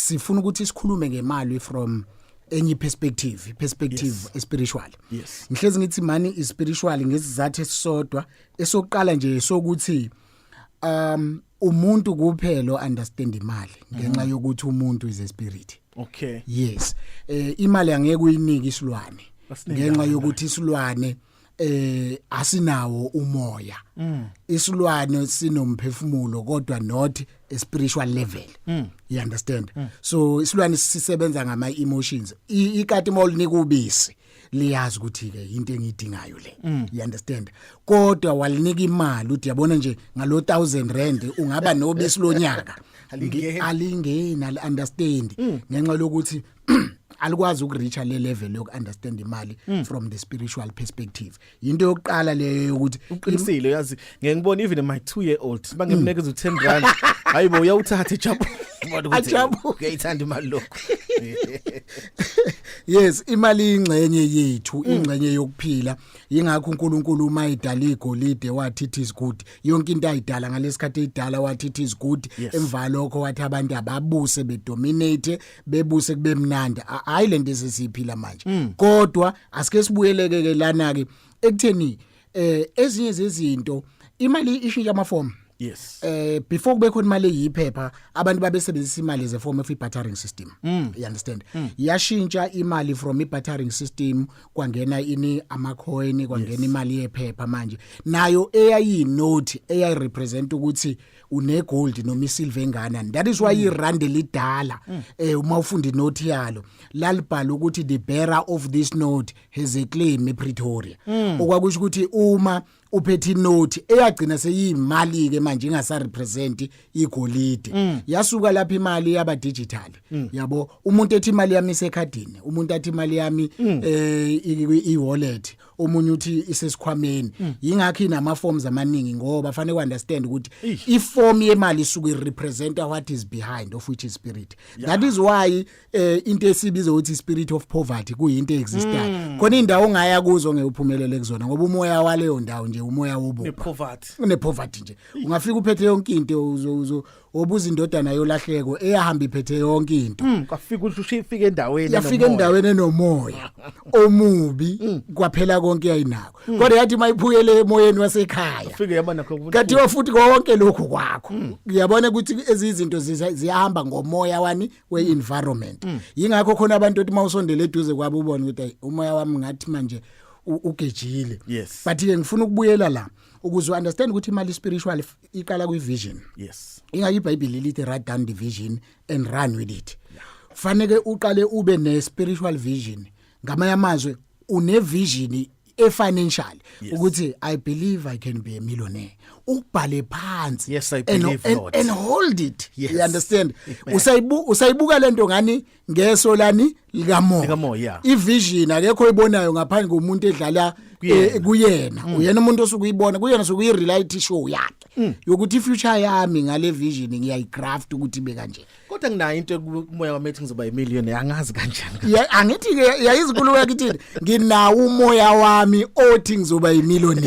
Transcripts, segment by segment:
sifuna ukuthi sikhulume ngemali from enye perspective perspective yes. spiritual yes ngihlezi ngithi mani is spiritual ngesizathu esisodwa esokuqala nje sokuthi um umuntu kuphela understand imali ngenxa mm. yokuthi umuntu is a spirit okay yes eh imali angeke uyinike isilwane ngenxa yokuthi isilwane eh asinawo umoya mm. isilwane sinomphefumulo kodwa not a spiritual level mm. you understand mm. so isilwane sisebenza ngama emotions ikati mawulinika ubisi liyazi ukuthi ke into engidingayo le mm. you understand kodwa walinika imali uthi yabona nje ngalo 1000 rand ungaba nobisi lonyaka alingeni ali understand mm. ngenxa lokuthi alikwazi ukureacha le level yoku understand imali mm. from the spiritual perspective into yokuqala leyo ukuthi uqinisile uyazi ngeke ngibone even my 2 year old bangemneke mm. u10 rand hayibo uyawuthatha ijabu ajabu uyayithanda imali lokho yes imali ingxenye yethu mm. ingxenye yokuphila ingakho uNkulunkulu uma idala igolide wathi it is good yonke into ayidala ngalesikhathi idala wathi it is good emva lokho wathi abantu ababuse bedominate bebuse kube mnandi hayi lento esisiphila manje mm. kodwa asike sibuyeleke ke lana ke ekutheni eh ezinye zezinto imali ishintsha amafomu yes eh before kube khona imali eyiphepha abantu babesebenzisa imali ze form of bartering system mm. you understand mm. yashintsha imali from bartering system kwangena ini ama coin kwangena yes. imali yephepha manje nayo eyayi note eyayi represent ukuthi une gold noma isilver enganani that is why mm. irand lidala mm. eh uma ufunda inote yalo lalibhala ukuthi the bearer of this note has a claim ePretoria mm. okwakusho ukuthi uma uphethe inote eyagcina seyimali ke manje ingasa represent igolide mm. yasuka lapha imali yaba digital mm. yabo umuntu ethi imali yami isekhadini umuntu athi imali yami mm. eh i wallet omunye uthi isesikhwameni mm. yingakho inama forms amaningi ngoba fanele uunderstand ukuthi iform yemali isuke represent what is behind of which is spirit yeah. that is why eh, into esibiza ukuthi spirit of poverty kuyinto existayo mm. khona indawo ongaya kuzo ngeyuphumelele kuzona ngoba umoya waleyo ndawo nje umoya wobu ne poverty ne poverty nje ungafika uphethe yonke into uzo obuza indodana yolahleko eyahamba iphethe yonke into Mm, kwafika ushushe ifike endaweni yafika enomoya. endaweni enomoya omubi Mm. kwaphela konke yayinako kodwa yathi mayiphukele emoyeni wasekhaya Ufike yaba nakho ukuthi- kanti wafuthi konke lokhu kwakho Mm. uyabona ukuthi ezizinto ziza- ziyahamba ngomoya wani we-environment Mm. yingakho khona abantu othi uma usondele eduze kwabo ubone ukuthi ayi umoya wami ngathi manje u- ugejile Yes. but-ke ngifuna ukubuyela la ukuze u-understand ukuthi imali spiritual f- iqala kwi vision yes inga iBhayibheli lithi write down the vision and run with it kufanele uqale ube ne spiritual vision ngamanye amazwi une vision e financial yes. ukuthi i believe i can be a millionaire ubhale phansi yes, I believe and, and, and hold it yes. you understand usayibuka lento ngani ngeso lani likamoya likamoya ivision akekho oyibonayo ngaphandle komuntu edlala eh, kuyena mm. uyena umuntu osuke uyibona kuyena suke uyireality show yakhe mm. yokuthi ifuture yami ngale vision ngiyayigraft ukuthi be kanje kodwa nginayo into kumoya wami ethi ngizoba imillion angazi kanjani ya angithi ke yayizikulu yakithini nginawo umoya wami othi ngizoba imillion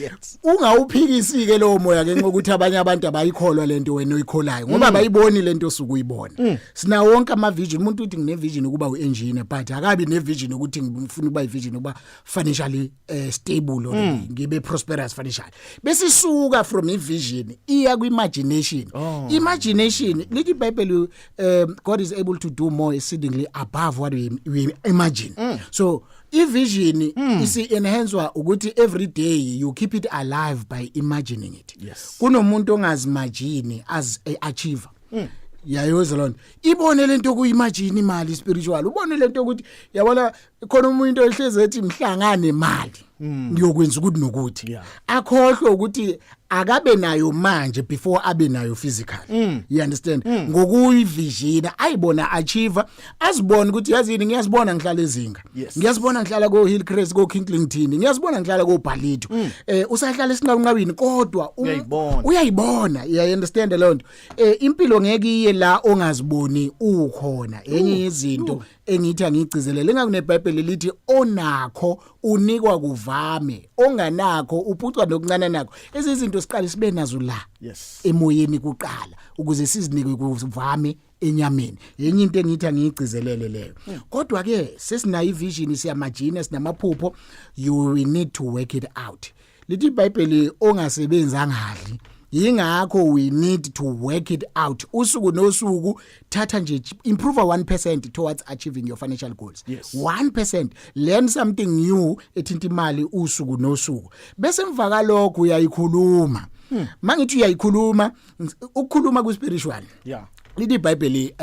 yes ungawuphikisi ke lowo moya ke ngokuthi abanye abantu abayikholwa lento wena oyikholayo ngoba mm. bayiboni lento osuke uyibona mm. sina wonke ama vision umuntu uthi ngine vision ukuba u engineer but akabi ne vision ukuthi ngifuna ukuba i vision ukuba financially uh, stable or mm. ngibe prosperous financially bese suka from i vision iya ku imagination oh. imagination lithi bible um, god is able to do more exceedingly above what we, we imagine mm. so ivision mm. isi enhancwa ukuthi every day you keep it alive by imagining it yes kunomuntu ongazimagine as a achiever mm. yayoza lona ibone lento okuyimajini imali spiritual ubone lento ukuthi yabona khona umuntu ohlezi ethi mhlangane imali hmm. ngiyokwenza ukuthi nokuthi akhohlwe ukuthi akabe nayo manje before abe nayo physical hmm. you understand hmm. ngokuyivijina ayibona achieve azibona ukuthi yazini ngiyazibona ngihlala ezinga ngiyazibona ngihlala ko Hillcrest ko Kingslington ngiyazibona ngihlala ko Bhalito eh usahlala esinqawunqawini kodwa uyayibona you understand lonto eh impilo ngeke iye la ongaziboni ukhona enye yezinto engithi angigcizelele engakunebhayibheli lithi onakho unikwa kuvame onganakho uphucwa nokuncane nakho ezizinto siqale sibe nazo la yes emoyeni kuqala ukuze sizinikwe kuvame enyameni yenye into engithi angiyigcizelele leyo hmm. kodwa ke sesinayo ivision siyamajina sinamaphupho you need to work it out lithi ibhayibheli ongasebenzi angadli yingakho we need to work it out usuku nosuku thatha nje improve 1% towards achieving your financial goals yes. 1% learn something new ethinta imali usuku nosuku bese emva kalokho uyayikhuluma hmm. mangithi uyayikhuluma ukukhuluma ku spiritual yeah lithi iBhayibheli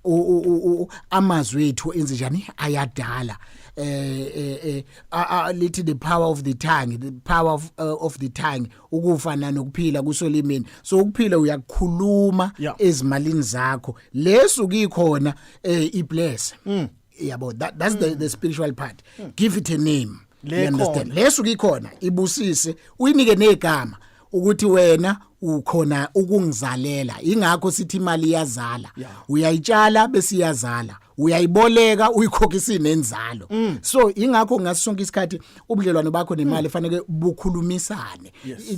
um amazwi ethu enze njani ayadala eh eh, eh uh, lithi the power of the tongue the power of, uh, of the tongue ukufa nanokuphila kusolimini so ukuphila uyakukhuluma yeah. ezimalini zakho lesu kikhona eh, ibless mm. yabo that, that's mm. the, the spiritual part mm. give it a name understand lesu kikhona ibusise uyinike negama ukuthi wena ukhona ukungizalela ingakho sithi imali iyazala uyayitshala bese iyazala uyayiboleka uyikhokhisa inenzalo mm. so ingakho ngasonke isikhathi ubudlelwano bakho nemali mm. fanele bukhulumisane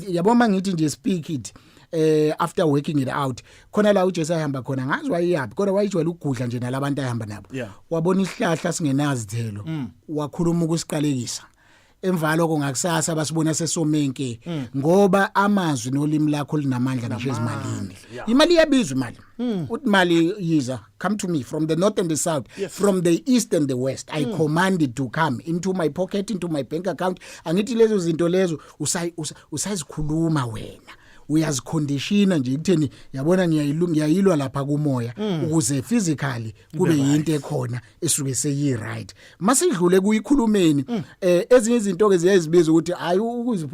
yabo mangithi nje speak it eh after working it out khona la uJesu ayihamba khona ngazi wayiyaphi kodwa wayijwayela ukugudla nje nalabantu ayihamba nabo wabona isihlahla singenazithelo mm. wakhuluma ukusiqalekisa emva lokho ngakusasa basibona sesomenke mm. ngoba amazwi nolimi lakho linamandla ngisho ezimalini imali iyabizwa imali mm. uthi imali yiza come to me from the north and the south yes. from the east and the west i mm. command it to come into my pocket into my bank account angithi lezo zinto lezo usayizikhuluma wena uyazikhondishina nje kutheni yabona ngiyayilwa lapha kumoya ukuze physically kube yinto ekhona esuke seyi right masidlule kuyikhulumeni mm. eh ezinye izinto ke ziyazibiza ukuthi hayi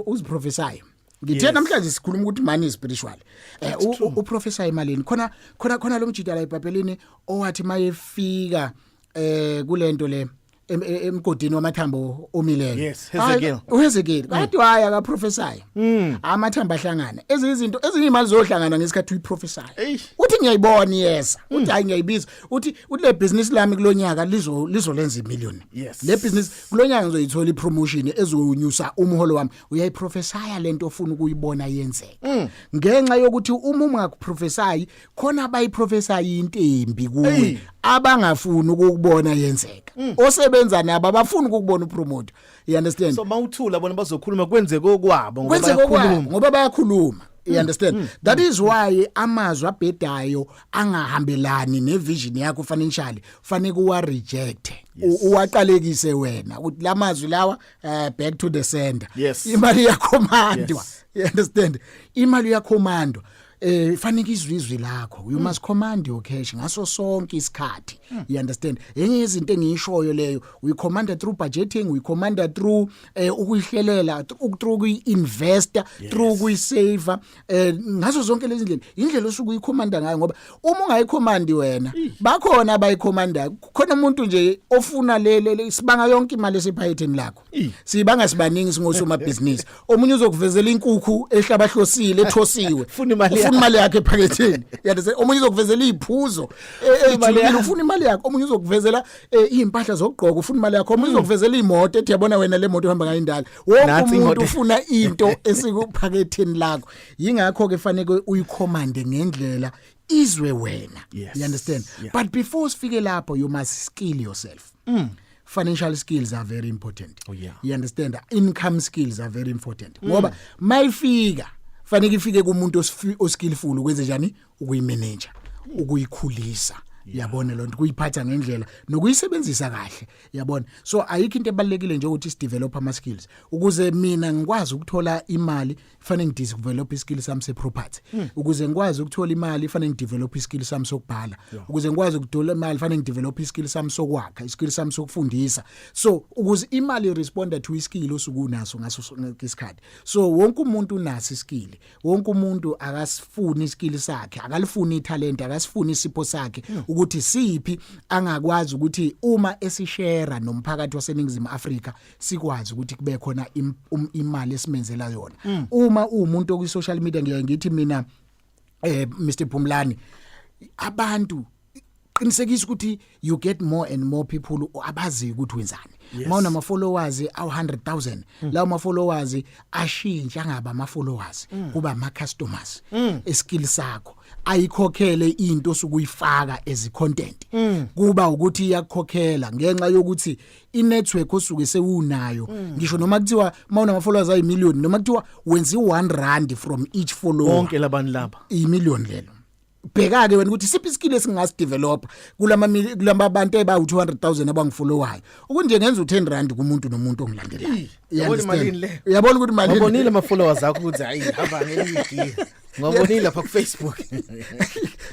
uziprofesayo ngithe yes. namhlanje sikhuluma ukuthi mani is spiritual eh u professor emalini khona khona khona lo mjida la ebhabhelini owathi mayefika eh kulento le emgodini wamathambo omileyo yes Hezekiel uHezekiel mm. kade waya ka professor mm. amathamba ahlangana ezinye izinto ezinye imali zohlangana ngesikhathi uyiprofessor uthi ngiyayibona yes mm. uthi hayi ngiyayibiza uthi uthi le business lami kulonyaka lizo lizolenza imillion Yes. le business kulonyaka ngizoyithola ipromotion ezonyusa umholo wami uyayiprofesaya lento ofuna ukuyibona yenzeka ngenxa yokuthi uma ungakuprofesayi khona abayiprofesayo intembi kuwe Eyi. abangafuni ukukubona yenzeka osebenza nabo abafuni ukukubona upromote you understand so mawuthula bona bazokhuluma kwenzeke okwabo ngoba kwenzeka okwabo bayakhuluma. ngoba bayakhuluma you understand that is why amazwi abhedayo angahambelani nevision yakho financially fanele uwa reject yes. uwaqalekise wena ukuthi lamazwi lawa uh, back to the sender yes. imali yakhommandwa yes. you understand imali yakhommandwa eh fanike izwizwi lakho you mm. must command your cash ngaso sonke isikhathi mm. you understand enye izinto engishoyo leyo we command through budgeting we command through eh ukuyihlelela through kuyi investor yes. through kuyi saver eh ngaso zonke lezi ndlela indlela osuku uyikhomanda ngayo ngoba uma ungayikhomandi wena bakhona abayikhomanda khona umuntu nje ofuna lele sibanga yonke imali esiphayetheni lakho sibanga sibaningi singosoma business omunye uzokuvezela inkukhu ehlabahlosile ethosiwe ufuna imali yakhe ephaketheni yadese omunye uzokuvezela iziphuzo e, ejulile ufuna imali yakho omunye uzokuvezela e, izimpahla zokugqoka ufuna imali yakho omunye uzokuvezela imoto ethi yabona wena le moto uhamba ngayo indala wonke umuntu ufuna into esikuphaketheni lakho yingakho ke fanele uyikhomande ngendlela izwe wena yes. you understand yeah. but before sifike lapho you must skill yourself mm. financial skills are very important oh, yeah. you understand income skills are very important mm. ngoba mayifika fanele ifike kumuntu oskillful kwenze njani ukuyimeneja ukuyikhulisa yabona lonto kuyiphatha ngendlela nokuyisebenzisa kahle yabona so ayikho into ebalekile nje ukuthi sidevelop ama skills ukuze mina ngikwazi ukuthola imali fanele ngidevelop iskill sami se property hmm. ukuze ngikwazi ukuthola imali fanele ngidevelop iskill sami sokubhala ukuze ngikwazi ukuthola imali fanele ngidevelop iskill sami sokwakha iskill sami sokufundisa so ukuze imali responder to iskill osukunaso ngaso isikhathi so wonke umuntu unaso iskill wonke umuntu akasifuni iskill sakhe akalifuni italent akasifuni isipho sakhe hmm. ukuthi siphi angakwazi ukuthi uma esishare nomphakathi waseningizimu Afrika sikwazi ukuthi kube khona um, imali esimenzela yona hmm. uma umuntu okwi social media ngiye ngithi mina eh Mr Phumlani abantu qinisekisa ukuthi you get more and more people abaziyo ukuthi wenzani yes. mawuna ma followers awu 100000 mm. lawo ma followers ashintsha ngaba ma followers mm. kuba ma customers mm. eskill sakho ayikhokhele into sukuyifaka as content mm. kuba ukuthi iyakhokhela ngenxa yokuthi i network osuke sewunayo mm. ngisho noma kuthiwa mawuna ma followers ayi million noma kuthiwa wenzi 1 rand from each follower bonke labantu laba i million lelo bheka-ke wena ukuthi siphi iskill esingasidevelopha kulama kulama bantu ebawu 200000 abangifollowayo ukunje ngenza u10 rand kumuntu nomuntu ongilandelayo yabona imali le uyabona ukuthi imali ubonile ama followers akho ukuthi hayi hamba ngeligi ngobonile lapha ku Facebook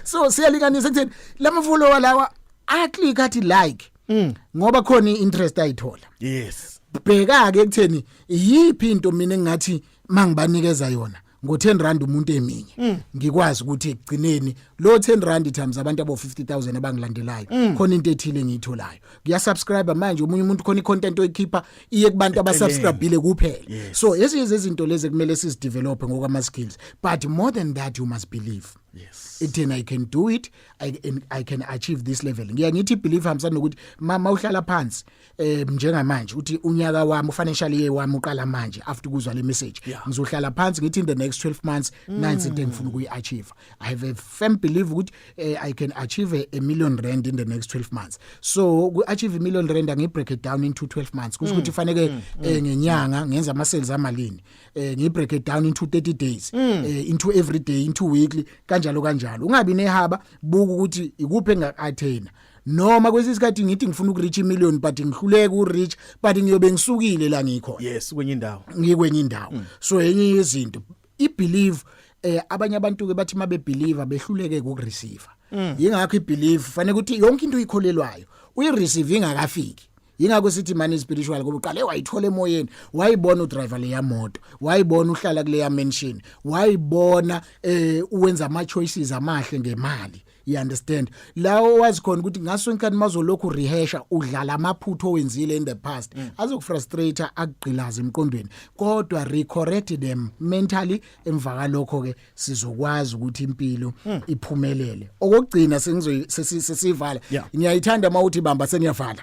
so siyalinganisa kutheni lama follower lawa a click athi like mm. ngoba khona interest ayithola yes bheka ke ekutheni yiphi into mina engathi mangibanikeza yona ngo-10 rand umuntu eminye mm. ngikwazi ukuthi ekugcineni lo 10 rand times abantu abo 50000 abangilandelayo mm. khona into ethile engiyitholayo ngiyasubscribe manje omunye umuntu khona icontent oyikhipha iye kubantu abasubscribile kuphela yes. so ezinye zezinto lezi kumele sizidevelop ngokwama skills but more than that you must believe yes ithina i can do it i, I can achieve this level ngiya ngithi believe hamsana nokuthi mama uhlala phansi eh njengamanje uthi unyaka wami ufinancial year wami uqala manje after kuzwa le message yeah. ngizohlala phansi ngithi in the next 12 months mm. nine into engifuna ukuyi achieve i have a firm belief ukuthi eh, i can achieve a, a million rand in the next 12 months so uku achieve a million rand angi break it down into 12 months kusho ukuthi mm. fanele mm. mm. eh, ngenyanga ngenza ama sales amalini eh ngi break it down into 30 days mm. eh, into every day into weekly kanjalo kanjalo ungabi nehaba buka ukuthi ikuphi enga attain noma kwesinye isikhathi ngithi ngifuna ukureach imillion but ngihluleka ureach but ngiyobe ngisukile la ngikho yes kwenye indawo ngikwenye indawo mm. so enye yezinto i believe eh abanye abantu ke bathi mabe believer behluleke ukureceive mm. yingakho i believe fanele ukuthi yonke into uyikholelwayo uyi receive ingakafiki yingakho sithi mani spiritual ngoba uqale wayithola emoyeni wayibona udriver leya moto wayibona uhlala kuleya mansion wayibona eh uwenza ama choices amahle ngemali you understand lawo wazi khona ukuthi ngaso inkani mazolokhu rehasha udlala amaphutho owenzile in the past mm. azokufrustrate akugqilaza emqondweni kodwa recorrect them mentally emva kalokho ke sizokwazi ukuthi impilo mm. iphumelele okugcina sengizoyisivala ngiyayithanda uma uthi bamba seniyavala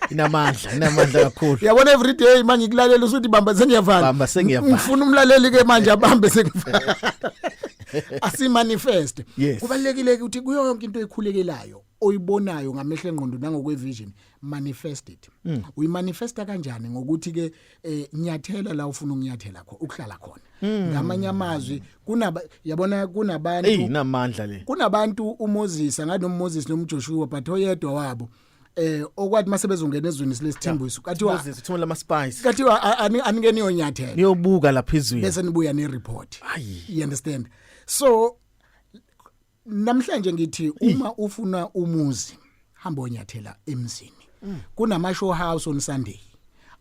inamandla inamandla kakhulu yabona every day manje ngikulalela usuthi bamba sengiyavala bamba sengiyavala ngifuna umlaleli ke manje abambe sengivala asimanifest yes. kubalekile ukuthi kuyo yonke into ekhulekelayo oyibonayo ngamehlo engqondo nangokwe vision manifest it mm. uyimanifesta kanjani ngokuthi ke eh, nyathela la ufuna ukunyathela kho ukuhlala khona mm. ngamanye amazwi kunaba yabona kunabantu hey namandla le kunabantu uMoses ngathi noMoses noMjoshua but oyedwa wabo eh okwathi mase bezongena ezweni silesithembu isu kathiwa sithuma lama spice kathiwa anike niyo nyathela niyobuka lapha izweni bese nibuya ne report you understand so namhlanje ngithi uma ufuna umuzi hamba onyathela emzini mm. kunama show house on sunday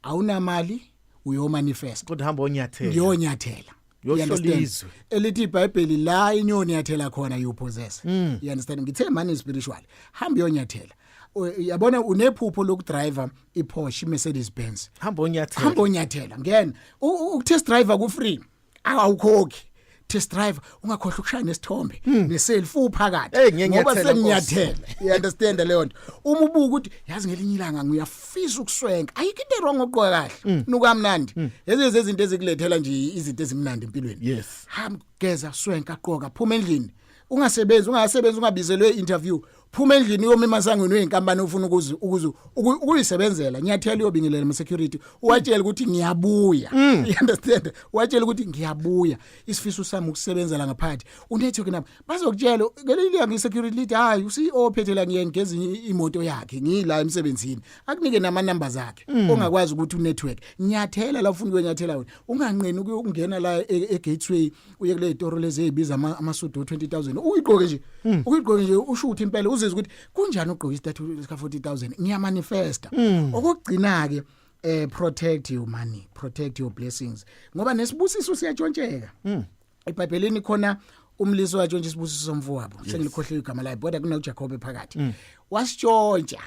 awunamali uyomanifest kodwa hamba onyathela ngiyonyathela You yohlo understand? lizwe elithi ibhayibheli la inyoni yathela khona you possess Mm. you understand ngithe mani spiritual hamba uyonyathela U- yabona unephupho lokudriver iPorsche iMercedes Benz hamba onyathela hamba onyathela ngena U- u- ukutest driver ku free awukhokhi test driver ungakhohlwa ukushaya nesithombe neselfie uphakathi Hmm. Hey, ngiye ngoba ngiyathela, senginyathela you understand leyo nto uma ubuka ukuthi yazi ngelinye ilanga nguya fisa ukuswenka ayikho into wrong ukugqoka kahle mm. nuka mnandi mm. ezinye zezinto ezikulethela nje izinto ezimnandi empilweni yes ham geza swenka qoka phuma endlini ungasebenzi ungasebenzi ungabizelwe interview phuma endlini uyoma emasangweni weinkampani ofuna ukuzi ukuzi ukuyisebenzela ngiyathela uyobingelela ama security uwatshela ukuthi ngiyabuya mm. you understand uwatshela ukuthi ngiyabuya isifiso sami ukusebenzela ngaphandle unethoke nabo bazokutshela ngeke ilika ngi security lead hayi u CEO ophethe la ngiyeni ngezinye imoto yakhe ngila emsebenzini akunike nama numbers akhe mm. ongakwazi ukuthi u network nyathela la ufuna ukwenyathela wena unganqeni ukungena la e, e gateway uye kule toro lezi ezibiza amasudu 20000 uyiqoke nje mm. uyiqoke nje ushuthe impela uzizwa ukuthi kunjani ugqoka istatue ka 40000 ngiya manifesta mm. okugcina ke eh protect your money protect your blessings ngoba nesibusiso siyatshontsheka mm. ebhayibhelini khona umlisi watsho nje isibusiso mfowabo yes. sengilikhohliwe igama lakhe kodwa kunoJakobe phakathi mm. wasitshontsha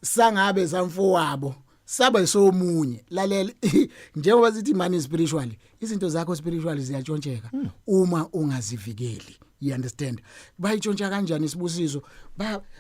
sangabe zamfowabo saba somunye lalela njengoba sithi mani spiritually izinto zakho spiritually ziyatshontsheka mm. uma ungazivikeli you understand bayitshontsha kanjani isibusiso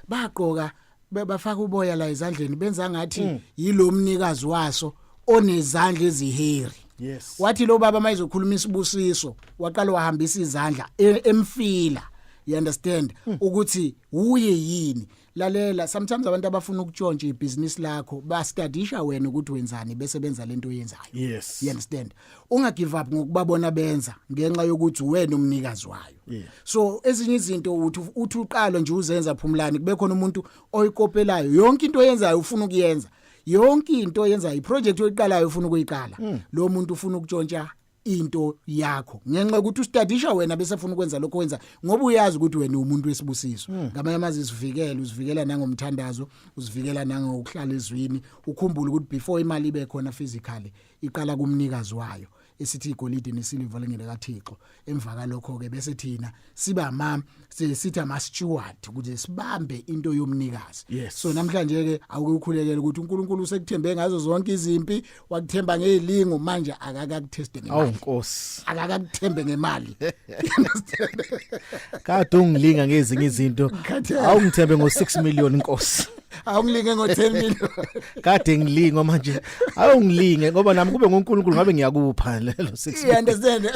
bagqoka ba bebafaka uboya la ezandleni benza ngathi mm. yilo mnikazi waso onezandla eziheri yes wathi lo baba mayizokhuluma isibusiso waqala wahambisa izandla e, emfila you understand mm. ukuthi uye yini lalela sometimes abantu abafuna ukutshontsha ibusiness lakho bastadisha wena ukuthi wenzani bese benza lento oyenzayo yes you understand unga give up ngokubabona benza ngenxa yokuthi wena umnikazi wayo yeah. so ezinye izinto uthi uthi uqalo nje uzenza phumlani kube khona umuntu oyikopelayo yonke into oyenzayo ufuna ukuyenza yonke into oyenzayo iproject oyiqalayo ufuna ukuyiqala mm. lo muntu ufuna ukutshontsha into yakho ngenxa ukuthi ustadisha wena bese ufuna ukwenza lokho wenza ngoba uyazi ukuthi wena umuntu wesibusiso hmm. ngamanye amazi isivikele usivikela nangomthandazo usivikela nangokuhlala ezwini ukhumbule ukuthi before imali ibe khona physically iqala kumnikazi wayo esithi igolide nesiliva lingene kaThixo emva kalokho ke bese thina siba ma sithi ama steward ukuthi sibambe into yomnikazi yes. so namhlanje ke awuke ukhulekele ukuthi uNkulunkulu usekuthembe ngazo zonke izimpi wakuthemba ngezilingo manje akakakutheste ngemali awu nkosi akakakuthembe ngemali kade ungilinga ngezinye izinto awungithembe ngo 6 million nkosi awungilinge ngo 10 million kade ngilinga manje awungilinge ngoba nami kube ngoNkulunkulu ngabe ngiyakupha lelo 6 yeah understand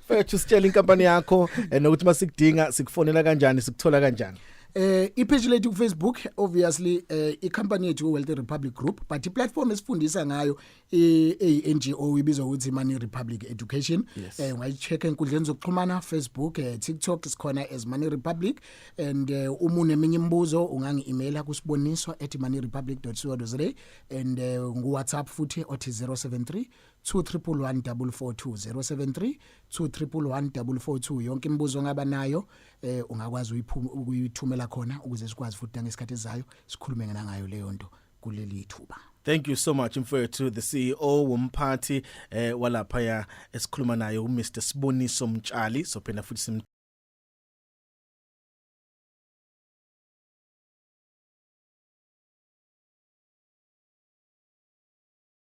fethu sitshela inkampani yakho eh, nokuthi masikudinga sikufonela kanjani sikuthola kanjani eh ipage lethu kuFacebook obviously eh icompany yethu Wealthy Republic Group but iplatform esifundisa ngayo i-NGO ibizwa ukuthi Money Republic Education yes. eh ungayicheck enkundleni zokuxhumana Facebook eh, TikTok sikhona as Money Republic and eh, uma uneminye imibuzo ungangi-emaila kusiboniswa at moneyrepublic.co.za and eh, ngu-WhatsApp futhi othi 073 2311442 073 yonke imibuzo ongaba nayo eh ungakwazi ukuyithumela khona ukuze sikwazi futhi nangesikhathi ezayo sikhulume ngayo leyo nto kuleli thuba Thank you so much mfowethu the CEO womphathi eh walapha ya esikhuluma naye u Mr Siboniso Mtshali sophenda futhi sim